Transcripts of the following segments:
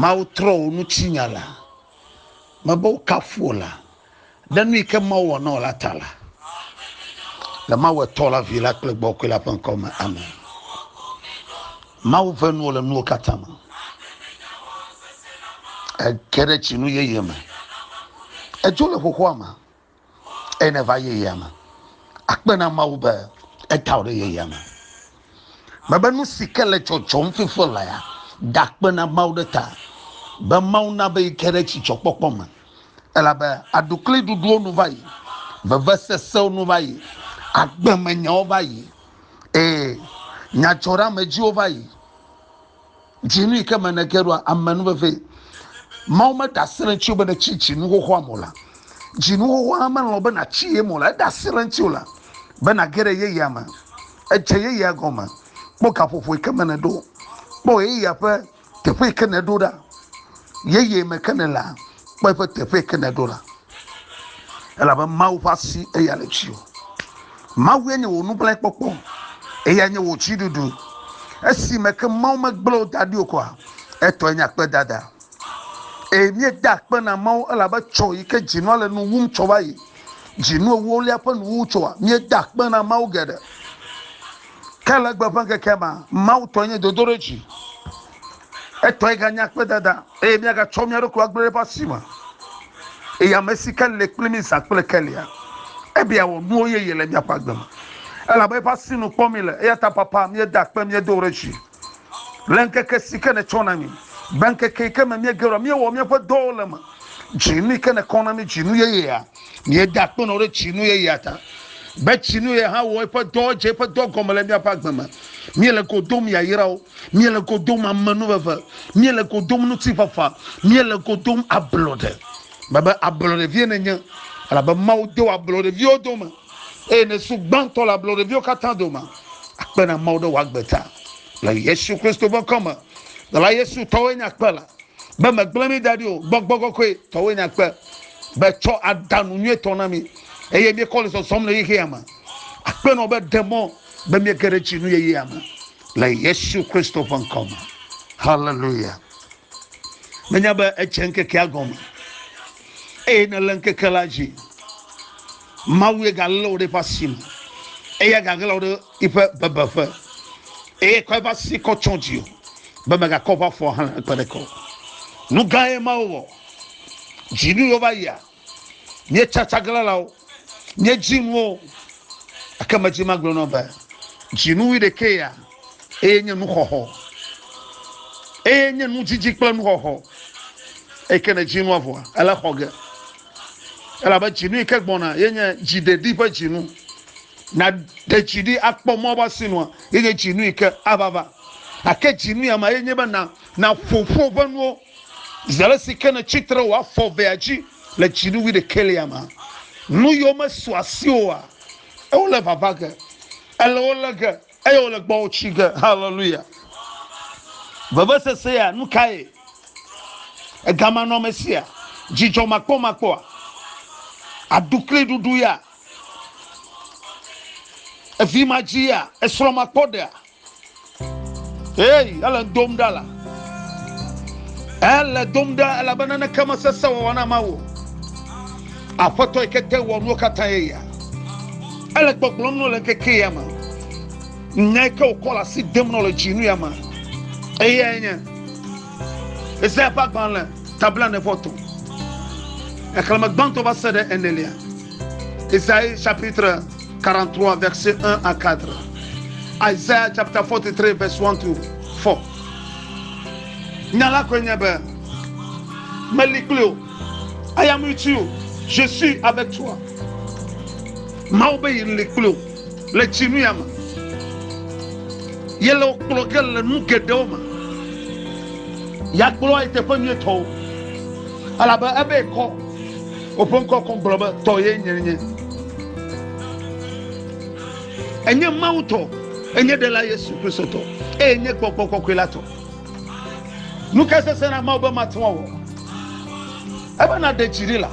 Mawu trɔ wò nutsinya la, mebe wokafu wò la, ɖe nu yi ke Mawu wɔ na wò la ta la, le Mawu etɔ la, vi la kple gbɔkɔe la ƒe ŋkɔ me, amen. Mawu ʋe nuwo le nuwo katã me. Ege ɖe tsinu yeye me. Edzo le xoxoa me. eye ne va yeyea me akpe na mawu be eta ɖe yeyea me mebe nu si ke le tsɔtsɔm fifɔ la ya dakpe na mawu ɖe ta be mawu na be yi ke ɖe tsitsɔkpɔkpɔ me elabe aɖukli ɖuɖuwo nu va yi veve sesewo nu va yi agbemenyawo va yi ee nyadzɔɖeamedziwo va yi Dzinu yi ke me nège ɖoa ame nu vevie. Mawu meɖe asi le ŋuti be nètsi dzinu xoxoa me o la. Dzinu xoxoa melɔ̃ be nàtsi ye me o la. Eɖe asi le ŋuti o la be nàge ɖe yeyea me. Edze yeyea gɔme. Kpɔ gaƒoƒo yi ke me nèɖo. Kpɔ yeyea ƒe teƒe yi ke nèɖo ɖa. Yeye me ke nèlea, Kpɔ eƒe teƒe ke nèɖo la, elabe Mawu ƒe asi eya le dziwò. Mawue nye wò nugblẽkpɔkpɔ, eyae nye wò dziɖuɖu. Esime ke Mawu megblẽ wò da ɖi o koa, etɔe nye akpedada. Eye míeda akpe na Mawu elabe tsɔ yi ke dzinua le nu wum tsɔ va yi, dzinu ewolia ƒe nuwuwu tsɔa, míeda akpe na Mawu geɖe. Ke le egbe ƒe ŋkekea mea, Mawu tɔe nye dodoɖedzi. Etɔe ganye akpedada eye míagatsɔ mía ɖokui agblẽ ɖe eƒe asi me. Eye ame si ke le kpli mí zã kple kelia, ebe yeawɔ nuwo yeye le míaƒe agbe me. Elabe eƒe asi nu kpɔm míele, eya ta papa, míeda akpe, míedo ɖe edzi le ŋkeke si ke nètsɔ na mí, be ŋkeke yi ke me míege ɖoa, míewɔ míaƒe dɔwo le eme. Dzinu yi ke nèkɔ na mí, dzinu yeyea. Míeda akpe nɔ ɖe tsinu ye ya ta, be tsinu ye hã wɔ eƒe dɔ dze eƒe dɔ gɔme le míaƒe agbe me. Míele go dom yayrawo, míele go dom amenuveve, míele go dom ŋutifafa, míele go dom ablɔɖe. Mebe ablɔɖevie nènye, elabe Mawu do ablɔɖeviwo dome, eye nèsu gbãtɔ le ablɔɖeviwo katã dome. Akpe na Mawu ɖe wò agbe ta le Yesu Kristo ƒe ŋkɔ me. Dɔla Yesu tɔwoe nye akpe la, be megblẽ mí da ɖi o, gbɔgbɔ kɔkɔe tɔwoe nye akpe. be tsɔ ada nu nyuitɔ na mi eye miekɔ le zɔzɔm le xexea me. Akpenɔ be ɖe mɔ be miege ɖe dzinu yeyea me le Yesu Kristo ƒe ŋkɔ me. Haleluya. Menya be edze ŋkekea gɔme eye ne le ŋkeke la dzi. Mawu ye galé wò ɖe eƒe asi me eye gaglẽ wò ɖe eƒe bebeƒe eye kɔ eƒe asi kɔ tsɔ dzi o be megakɔ ƒe afɔ hã kpe ɖe kɔ. Nu gã ye Mawu wɔ. Dzinuwo va yia, míetsa tsaglãlawo, míedzi nuwo, gake medi magblɔ na wò be dzinu wuiɖekee ya, eye nye nuxɔxɔ, eye nye nudzidzi kple nuxɔxɔ, eyi ke nèdzi nua vɔa, ele xɔ ge. Elabe dzinu yi ke gbɔna ye nye dziɖeɖi ƒe dzinu. Nàɖe dzi ɖi akpɔ mɔ va si nua, ye nye dzinu yi ke ava va. Gake dzinu ya ma ye nye be nàƒo ƒu woƒe nuwo. Zi ale si ke nètsi tre wò afɔ evea dzi le dzinu wuiɖekɛlia mea, nu yiwo mesu asi oa, eo lé vava ge. Èlé wo lé ge, eye wole gbɔwò tsi ge. Haleluya! Vevesese ya, nu kae? Egamanɔamesia, dzidzɔmakpɔmakpɔa, aɖukliɖuɖu ya, evimadzi ya, esrɔ̃makpɔɖea. Hey, ele dom ɖa la. Ele dom ɖa elabena ne kema sese wɔwɔ na ma wo. Aƒetɔ yi kete wɔ nuwo katã ye ya. Ele gbɔgblɔm no le keke ya ma. Nya yi ke wokɔ le asi dem no le dzinu ya ma. Eya ye nye. Ezaya ƒe agbalẽ tabla ne vɔ to. Exleme gbãtɔ va se ɖe enelia. Ezaya chapitre. 43 verset 1 à 4. Isaiah chapter 43 verse 1 to 4. Nya la koe nye be meli kpli o. I am with you. Je suis avec toi. Mawu be yi li kpli o le dzinu ya me. Yele kplɔ ke le nu geɖewo me. Yakplɔ yi teƒe nyuitɔwo. Elabe ebe kɔ Woƒe ŋkɔ kɔn gblɔ be, Tɔ ye nye nye. Enye Mawu tɔ, enye Ɖela Yesu Kristo tɔ, eye enye Gbɔgbɔ Kɔkɔe la tɔ. Nu ka sesẽ na Mawu be mate ŋu awɔ? Ebe naɖe dzi ɖi la.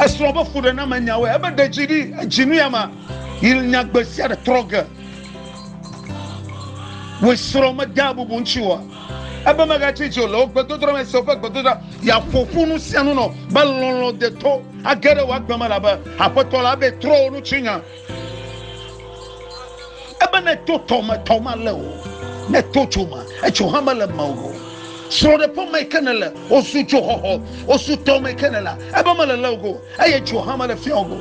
Esrɔ̃ be fuɖename nyawoe. Ebe ɖe dzi ɖi, edzi nu ya ma, yi nya gbe sia ɖe trɔ ge. Wòe srɔ̃ medea bubu ŋutsi oa? Ebe megatsi dzo le wò gbedodoɖa me se woƒe gbedodoɖa, yeaƒo ƒu nu sia nu nɔ be lɔlɔ̃ deto age ɖe wò agbe me elabe Aƒetɔ la be trɔ wò nutsinya. Ebe neto tɔ me tɔ male o, neto dzo me edzo hã mele me o. Srɔ̃ɖeƒe me ke nele, wosu dzoxɔxɔ, wosu tɔ me ke nele, ebe mele le o go, eye dzo hã mele fia o go.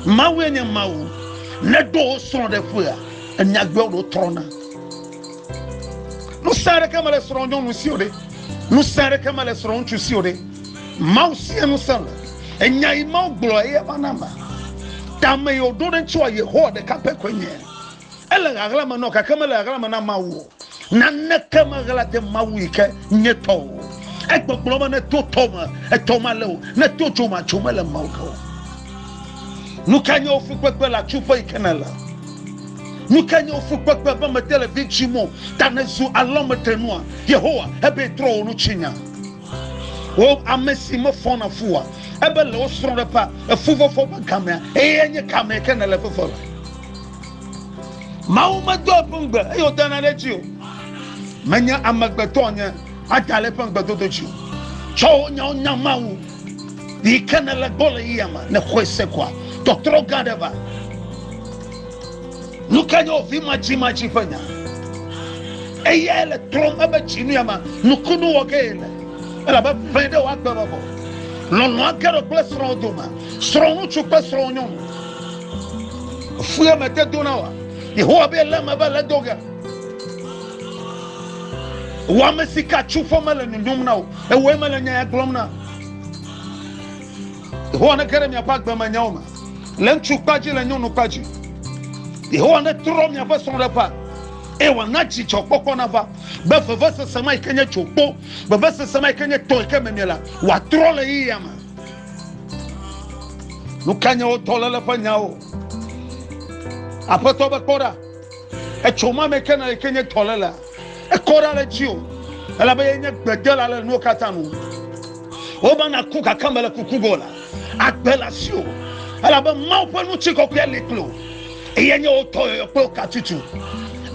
Mawue nye Mawu. Ne ɖo wo srɔ̃ ɖe ƒea, enya gbɔe ɖo trɔna. Ŋusẽ aɖeke mele srɔ̃ nyɔnu si o ɖe. Ŋusẽ aɖeke mele srɔ̃ ŋutsu si o ɖe. Mawu sie ŋusẽ le. Enya yi Mawu gblɔ eye va na ma. Tame yi woɖo ɖe ŋuti wa Yehowa ɖeka pɛ koe nye. Ele ɣaɣla me nɔ gake mele ɣaɣla me na Mawu o. Naneke meɣla de Mawu yi ke nye tɔ o. Egbɔgblɔ be ne to tɔ me, etɔ male o, ne to dzo ma, dzo mele Mawu ke o. Nuka nye wò fukpekpe le atsuƒe yi ke nèle? Nuka nye wò fukpekpe be mete le vi dzim o ta nèzu alɔmetenua? Yehowa ebe trɔ wò nutsinya. Wò ame si mefɔna fua, ebe le wò srɔ̃ɖeƒea, efuvɔvɔ ƒe gamea, eye nye gamee ke nèle fefe le. Mawu medoa eƒe ŋugbe eye wòdana ɖe edzi o. Menye amegbetɔ nye ada le eƒe ŋugbedodo dzi o. Tsɔ wò nyawo nya Mawu. Yi ke nèle gbɔ le yia me, nèxɔe se kɔa, tɔtrɔ gã aɖe va. Nu ka nye wò vi madzimadzi ƒe nya? Eyae le trɔm ebe dzinu ya me nukunu wɔ ge le, elabe ƒe ɖe wòagbe bɔbɔ. Lɔlɔ̃a ge ɖo kple srɔ̃wò dome, srɔ̃ŋutsu kple srɔ̃wò nyɔnu. Fue me te dona wa. Yehowa be le me be le do ge. Wa me si ka tsu fɔ me le nyɔnyɔm na o. Ewe me le nya ya gblɔm na. Yehowa ne kere mi apa gbe me nyawo me. Le ntsu kpadzi le nyɔnu kpadzi. Yehowa ne trɔ mi apa sɔn ɖe pa. E wa na dzi tsɔ kpɔkpɔ na va. Be veve sese ma ikenye tso kpo. Veve sese ma ikenye tɔ ikenye me mi la. Wa trɔ le yi ya me. nu ka nye wo dɔléle ƒe nyawo aƒetɔ be kpɔ ɖa etso ma me ke na yike nye dɔlélea ekɔ ɖa le dzi o elabe ye nye gbedela le nuwo katã nu woba na ku gake mele kuku go la agbe le asi o elabe mawu ƒe nu tsi kɔkɔe li kple o eye nye wo tɔ yɔyɔ kple wo katutu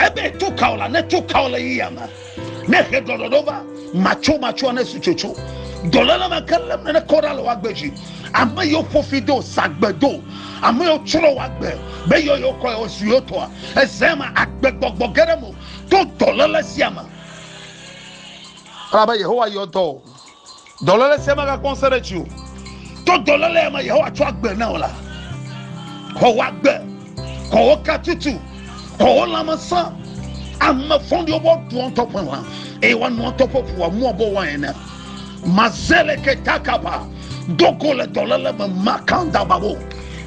ebe tu ka o la ne tu ka o le yiyama Ne ƒe ɖɔɖɔɖɔ va, matsomatsoa ne su tsotso. Dɔléle me ke lém nene kɔ ɖa le woagbe dzi. Ame yiwo ƒo fi do, sa gbe do, ame yiwo tsrɔ̃ woagbe, be yɔ yewo kɔ yewo su yewo tɔa, eze me agbegbɔgbɔ ge ɖe mo to dɔléle sia me. Elabe Yehowa yɔ dɔ o. Dɔléle sia megakpɔ ŋusẽ ɖe dziwò. To dɔléle ya me Yehowa tsɔ agbe na wò la, xɔ wò agbe, xɔ wò katutu, xɔ wò lãmesẽ. Ame vɔ̃ɖiwo bɔ ɖua ŋutɔ ƒe lã, eye woanoa ŋutɔ ƒe ʋu amu abe wain ene. Mazeleke takaba, do go le dɔléle me makandababo.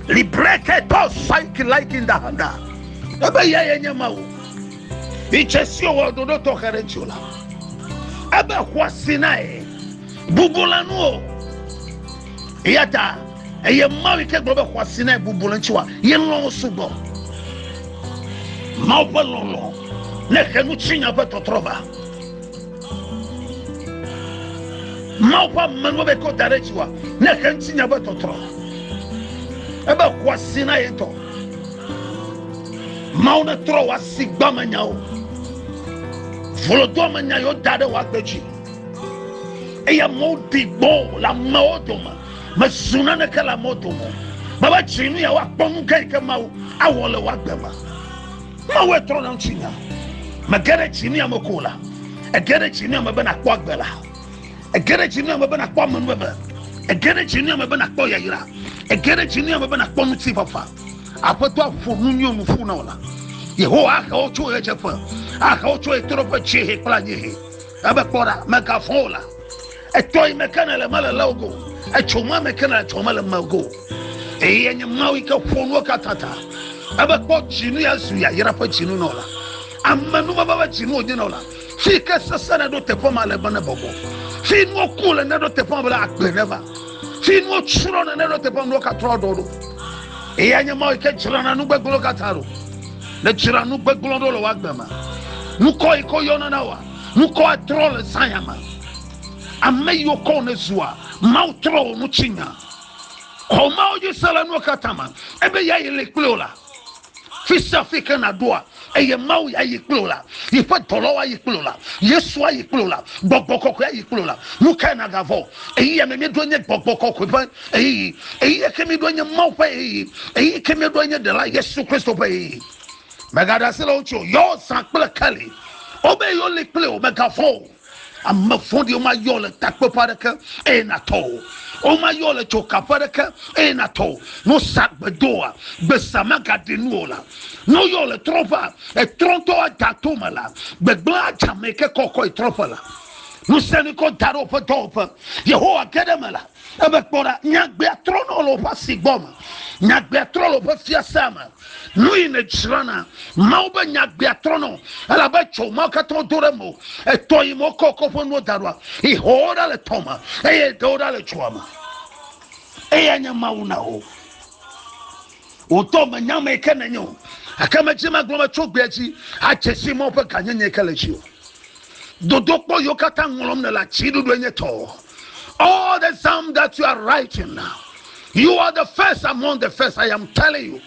Libreke tɔ saiki laikindahanda. Ebe yae nye Mawu. Itse si wòwɔ ɖoɖo tɔxɛ ɖe ŋuti o la, ebe xɔa Sinai bubu le nu o. Eya ta eye Mawu yi ke gblɔ be xɔa Sinai bubu le ŋuti wa, ye lɔ̃ wo sugbɔ. Mawu ƒe lɔlɔ̃ ne xe nu tsi nya ƒe tɔtrɔ va. Mawu ƒe amenuwo be kɔ da ɖe dziwòa ne xe ŋuti nya be tɔtrɔ. Ebe xɔ asi na ye tɔ. Mawu ne trɔ wɔ asi gba me nyawo. Volodoa me nya yewo da ɖe wɔ agbe dzi. Eye amewo di gbɔ le amewo dome. Mezu naneke le amewo dome. Baba dzi nu ya woakpɔ nu gã yi ke Mawu awɔ le wɔ agbe me. Mawu etrɔ na ŋutsu nya. Mege ɖe dzi ne ame ko la. Ege ɖe dzi ne ame be nakpɔ agbe la. Ege ɖe dzi ne ame be nakpɔ amenuveve. Ege ɖe dzi ne ame be nakpɔ yayra. Ege ɖe dzi ne ame be nakpɔ ŋutifafa. Aƒetɔ aƒo nu nyɔ nu ƒu na wò la. Yehowa ahe wo tso ɣedzeƒe. Ahe wo tso ɣetoɖoƒe dziehe kple anyiehe. Ebe kpɔ ɖa, megavɔ̃ o la. Etɔ yi me ke nèle mele le ogo. Etso ma me ke nèle tso mele mego. Eye nye Mawu yi ke ƒo nuwo katã ta. Ebe kpɔ dzinu ya zu yayra ƒe dzinu nɔ la. Ame nu baba ƒe dzinu wònye nɔ la. Fi ke sese ne ɖo teƒe ma le be ne bɔbɔ. Fi nuwo ku le ne ɖo teƒe ma be la agbe ne va. Fi nuwo tsrɔ ne ne ɖo teƒe ma nuwo katrɔ ɖɔ ɖo. Eye nye Mawu yi ke dzra na nu gbegblẽ katã ɖo. Ne dzra nu gbegblẽ ɖo le woagbe ma. Nukɔ yi ke yɔna na wa. Ŋkɔ atrɔ le Zion me. Ame yiwo kɔ ne zua Mawu trɔ wò ŋuti nya. Kɔ Mawu dzi se le nuwo katã me. Ebe ya yi li kple wò la. Fi sia fi ke nàɖoa, eye Mawu ya yi kple wò la. Yeƒe dɔlawo ayi kple wò la. Yesu ayi kple wò la. Gbɔgbɔ kɔkɔe ayi kple wò la. Nu kae nàgavɔ̃? Ɣeyiɣia me míeɖo nye gbɔgbɔ kɔkɔe ƒe ɣeyiɣi. Ɣeyiɣia ke míeɖo nye Mawu ƒe ɣeyiɣi. Ɣeyiɣi ke míeɖo nye Ɖela Yesu Kristo ƒe ɣeyiɣi. Mègaɖe asi le wo ŋuti o. Yɔ zã kple keli. Wobe yoli kpli o. Mègavɔ̃ o. Ame vɔ̃ɖiwo mayɔ le takpeƒe aɖeke eye nàtɔ o. Womayɔ le dzokaƒe aɖeke eye nàtɔ o. Ne wosa gbe do wòa, gbesa magaɖi nu o la. Ne woyɔ le trɔ̃ƒea, etrɔ̃tɔwo ada to me la. Gbegblẽ adze ame yi ke kɔkɔ yi trɔ̃ƒe la. Ŋusẽ nikɔ da ɖe woƒe dɔwɔƒe. Yehowa ge ɖe eme la. Ebe kpɔ ɖa, nyagbea trɔna le woƒe asi gbɔ me, nyagbea trɔ le woƒe fiasea me. Nu yi nèdzrana, Mawu be nyagbea trɔna, elabe etsɔ mawo katã do ɖe me. Etɔ yi me wokɔ wokɔ ƒe nuwo da ɖoa, yi xɔ wo ɖa le tɔ me, eye ɖe wo ɖa le dzoa me. Eyae nye Mawu na wo. Wò ŋutɔ mènya ame yi ke nènye o, gake medze eme agblɔ be tso egbea dzi, adze sii mɔ ƒe gãnyenye yi ke le dziwò. Dodokpɔ yiwo katã ŋlɔm nèle atsiɖuɖue nye tɔ. All the psalm that you are writing, you are the first among the first, I am telling you.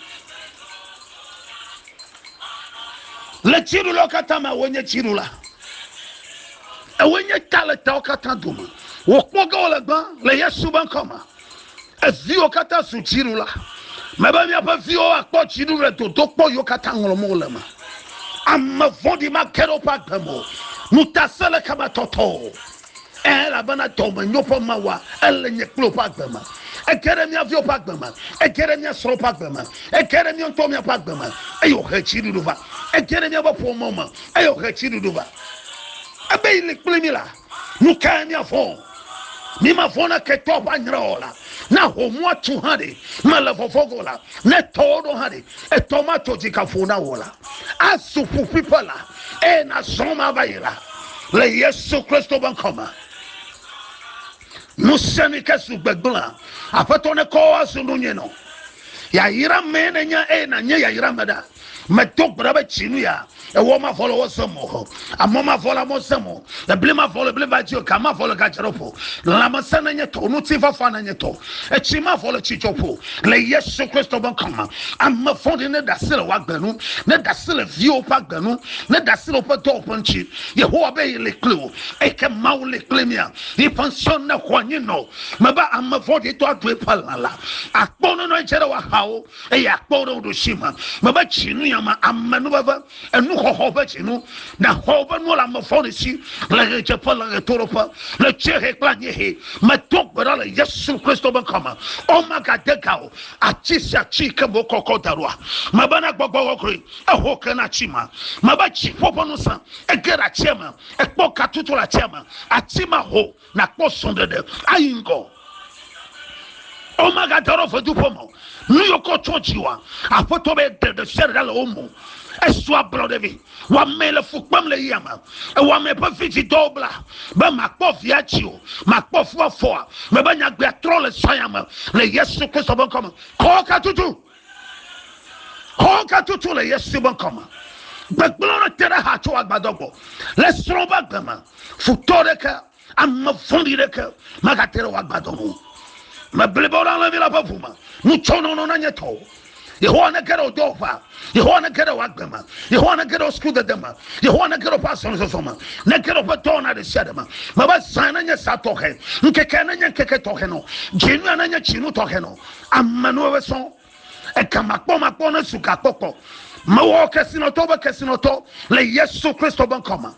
Le dziɖulawo katã me, wònye dziɖula. Ewoe nye ta le tawo katã dome. Wòkpɔ ge wòle gbã le Yesu be ŋkɔ me. Eviwo katã zu dziɖula. Mebe miaƒe viwo akpɔ dziɖu le dodokpɔ yiwo katã ŋlɔm wole me. Ame vɔ̃ɖi mage ɖe woƒe agbe me o. Ŋutasẽleke matɔtɔ o. Ẽ, elabena dɔmenyo ƒe Mawua, ele nye kple wò ƒe agbe me. Ege ɖe mía viwo ƒe agbe me. Ege ɖe mía srɔ̃wo ƒe agbe me. Ege ɖe mía ŋutɔwo míaƒe agbe me, eye wòhe dziɖuɖu va. Ege ɖe míaƒe ƒome me, eye wòhe dziɖuɖu va. Ebe yeli kpli mí la. Nu kae míavɔ̃? Mímavɔ̃ na ketɔa ƒe anyre o la, na homua tsu hã ɖe mele vɔvɔ̃ ge o la, ne tɔwo ɖo hã ɖe, etɔ ma tso dzi gaƒo na wò la, azu ƒuƒuiƒe la, eye nàzɔ me ava yi la, le Yesu Kristo ƒe ŋkɔ me. Ŋusẽ mi ke zu gbegblẽa, Aƒetɔ nekɔ azu nu nyui nɔ. Yayra mee nènya eye nànye yayra me ɖa. medo gbe ɖa be tsi nu ya ewɔ ma vɔ le wɔ sɛm o amɔ ma vɔ le amɔ sɛm o ebli ma vɔ le ebli va dzi o ga ma vɔ le ga dzɔɖɔ ƒo lãmesẽ ne nye tɔ ŋuti fafa ne nye tɔ etsi ma vɔ le tsi dzɔ ƒo le yesu kristu be kɔma ame vɔɖi ne dasi le wa gbenu ne dasi le viwo ƒe agbenu ne dasi le woƒe dɔwɔ ƒe ŋuti yehowa be yi le kpli o eke mawu le kpli mia yi ƒe ŋusẽ ne xɔ anyi nɔ me be ame vɔɖi tɔ aɖoe ƒe lã la akpɔ nɔnɔ edze ɖe wa hawo eye akpɔ ɖe wo ɖosi me me be tsinu ya me ame nu veve enu xɔxɔ ƒe tsinu na xɔ woƒe nuwo le ame fɔ ɖe si le ɣedzeƒe le ɣetoɖoƒe le tsɛhe kple anyehe me to gbe ɖa le yesu kristo be kɔme o magade ga o ati sia ati ke mo kɔkɔ da ɖoa me be na gbɔgbɔ kɔkɔe eho ke na tsi ma me be tsi ƒoƒe nu sa ege ɖe atsia me ekpɔ katutu le atsia me ati ma ho nàkpɔ srɔ̃ɖeɖe ayi ŋgɔ. Womagade ɖe veduƒe me o. Nu yiwo ke wotsɔ dzi woa, Aƒetɔ be ɖe ɖe sia ɖe ɖa le wo me. Esu ablɔɖe vɛ. Wò amee le fu kpem le yia me. Ewɔ ame ƒe vidzidɔwo bla be màkpɔ vi adzi o, màkpɔ fu afɔ o. Mebe nyagbea trɔ le saya me le Yesu Kristo ƒe ŋkɔ me. Kɔ katutu. Xɔga tutu le Yesu be ŋkɔ me. Gbegblẽ ɖe te ɖe ha tso agbadɔ gbɔ. Le srɔ̃ va gbe me, futɔ ɖeke, ame vɔ̃ɖi ɖeke magate ɖe wò agbadɔ ŋu. Me blibo ɖe alẽvi la ƒe ʋu me. Nu tsɔ nɔnɔ na nye tɔwo. Yehowa nege ɖe wò dɔwɔƒea. Yehowa nege ɖe wò agbe me. Yehowa nege ɖe wò sukudede me. Yehowa nege ɖe woƒe azɔlizɔzɔ me. Nege ɖe woƒe dɔwɔna ɖe sia ɖe me. Mebe zã nenye zã tɔxɛ. Ŋkekea nenye ŋkeke tɔxɛ nɔ. Dzinua nenye dzinu tɔxɛ nɔ. Ame nɔ ebe sɔn eka makpɔ makpɔ ne su gakpɔkpɔ mewɔ kesinɔtɔ be kesinɔtɔ le Yesu Kristo be ŋkɔ me.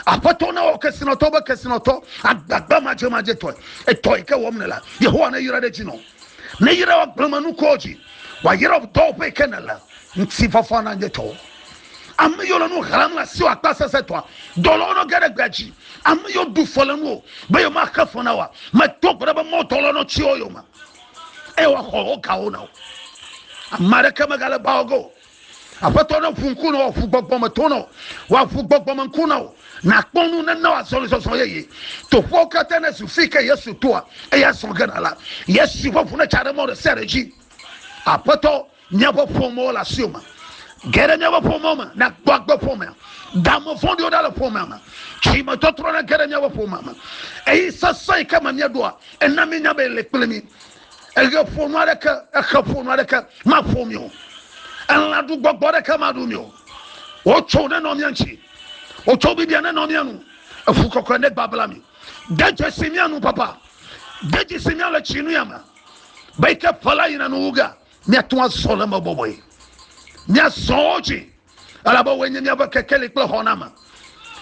Aƒetɔ ne wɔ kesinɔtɔ be kesinɔtɔ agbagba madze madze tɔe etɔ yi ke wɔm ne la Yehowa ne yra ɖe dzi nɔ ne yra wa gbleme nukɔ dzi wa yra dɔ ƒe yi ke ne la ŋuti fafa na nye tɔ ame yo le nu hram le asi wa kpa sese tɔa dɔlɔ nɔ ge ɖe gbea dzi ame yo du fɔ le nuwo be yo ma xe fɔ na wa me to gbe ɖe be mɔ dɔlɔ nɔ tsi yo yo ma eye woaxɔ wo gawo na wo. Ame aɖeke megale ba wo ge o. Aƒetɔ ne ƒu ŋku na wo, ƒu gbɔgbɔ me to na wo, wòaƒu gbɔgbɔ me ŋku na wo. Nàkpɔ nu nena wo azɔlizɔzɔ yeye. Toƒewo katã nezu fi ke Yesu toa, eye azɔ gena la, Yesu ƒe ʋu netsa ɖe mɔ ɖe sia ɖe dzi. Aƒetɔ, Míaƒe ƒomewo le asiwò me. Ge ɖe míaƒe ƒomewo me na gbɔ agbe ƒomea. Da ame vɔ̃ɖiwo ɖa le ƒomea me. Tsimetɔtrɔ na ge ɖe míaƒe ƒomea me. Eye sesẽ yi ke me míeɖoa, ena míenya be ele kple mí. Eɣe ƒonu aɖeke, exe ƒonu aɖeke maƒo mí o. Elã ɖu gbɔgbɔ aɖeke maɖu mí o. Wotso ne nɔ mía ŋuti. Wotso bibia ne nɔ mía nu. Eƒu kɔkɔe ne gbabla mí. De dzesi mía nu, papa. De dzesi mía le tsi nu ya me. Be yi ke ƒe la yina nu wu ge. Míate ŋu azɔ le eme bɔbɔe. Míazɔ wo dzi, elabe woe nye míaƒe kekeli kple xɔname.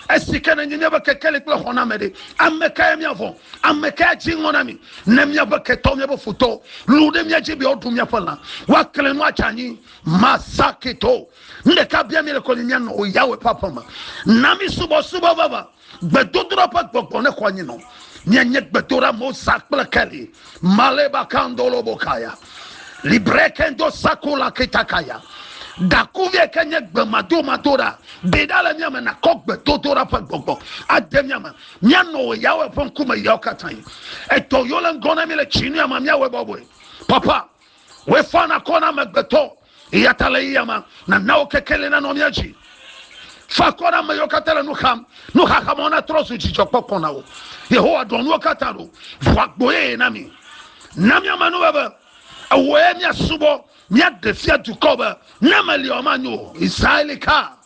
Esi ke nenye míaƒe kekeli kple xɔname ɖe, ame kae míavɔ̃? Ame kae adzi ŋɔ na mí? Ne míaƒe ketɔwo, míaƒe futɔwo, lũ ɖe mía dzi be yewoaɖu míaƒe lã, woaklẽ nu adze anyi. Masakito. Nu ɖeka biam míele kɔ nye mía nɔwo Yahweh ƒe aƒe me. Na mí subɔsubɔ vavã. Gbedodoɖa ƒe gbɔgbɔ ne xɔ nyi nɔ. Mienye gbedoɖa Mosa kple Kelly. Maleba kandolo bokaya. Libre kendo sakula kitakaya. Dakuvie ke nye gbemadomadoɖa. Ɖeɖa le mia me nakɔ gbedodoɖa ƒe gbɔgbɔ. Ade mia me. Mianɔ wɔ Yahweh ƒe ŋkume yawo katã. Edɔ yo le ŋgɔ na mi le tsinuyama miawɔe bɔbɔe. Papa, wefana kɔ na amegbetɔ. Eya ta le ɣeya ma, nana wò kekeli nanɔ mía dzi. Fa akɔ na ame yiwo katã le nu xam. Nuxaxa mawo natrɔ zu dzidzɔkpɔkpɔ na wo. Yehowa ɖɔ nuwo katã ɖo. Ʋu agbo yeye na mí. Na míame nu be, be ewòe míasubɔ. Míaɖe fia dukɔwo be, Ne meliɔ, manyo o. Israel ka.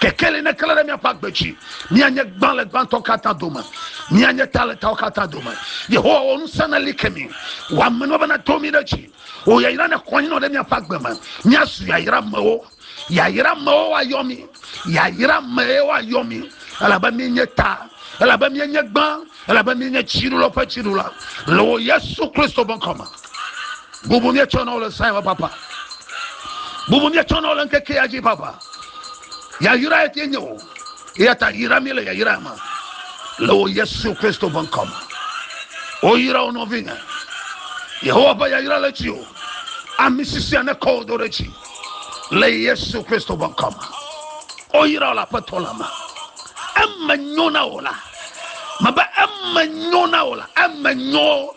Kekeli neklẽ ɖe míaƒe agbe dzi. Míanye gbã le gbãtɔ katã dome. Míanye ta le tawo katã dome. Yehowa wɔ ŋusẽ neli ke mí. Wɔ amenuveve be nato mí ɖe dzi. Wò yayra ne xɔ anyi nɔ ɖe míaƒe agbe me. Míazu yayra mewo. Yayra mewo woayɔ mí. Yayra mee woayɔ mí. Elabe míenye ta. Elabe míenye gbã. Elabe míenye dziɖula ƒe dziɖula. Le wò Yesu Kristo ƒe ŋkɔ me. Bubu míetsɔ na wo le Zion papa. Bubu míetsɔ na wo le ŋkeke ya dzi papa. Yayra ye ke nye wo. Eya ta yra mi le yayra me. Le wo Yesu Kristo ƒe ŋkɔ me. Woyra wo nɔvinye. Yehowa ƒe yayra le dzi o. Ami sisia ne kɔ wo do ɖe dzi. Le Yesu Kristo ƒe ŋkɔ me. Woyra wo le aƒetɔ la me. Eme nyo na wo la. Mebe eme nyo na wo la. Eme nyo.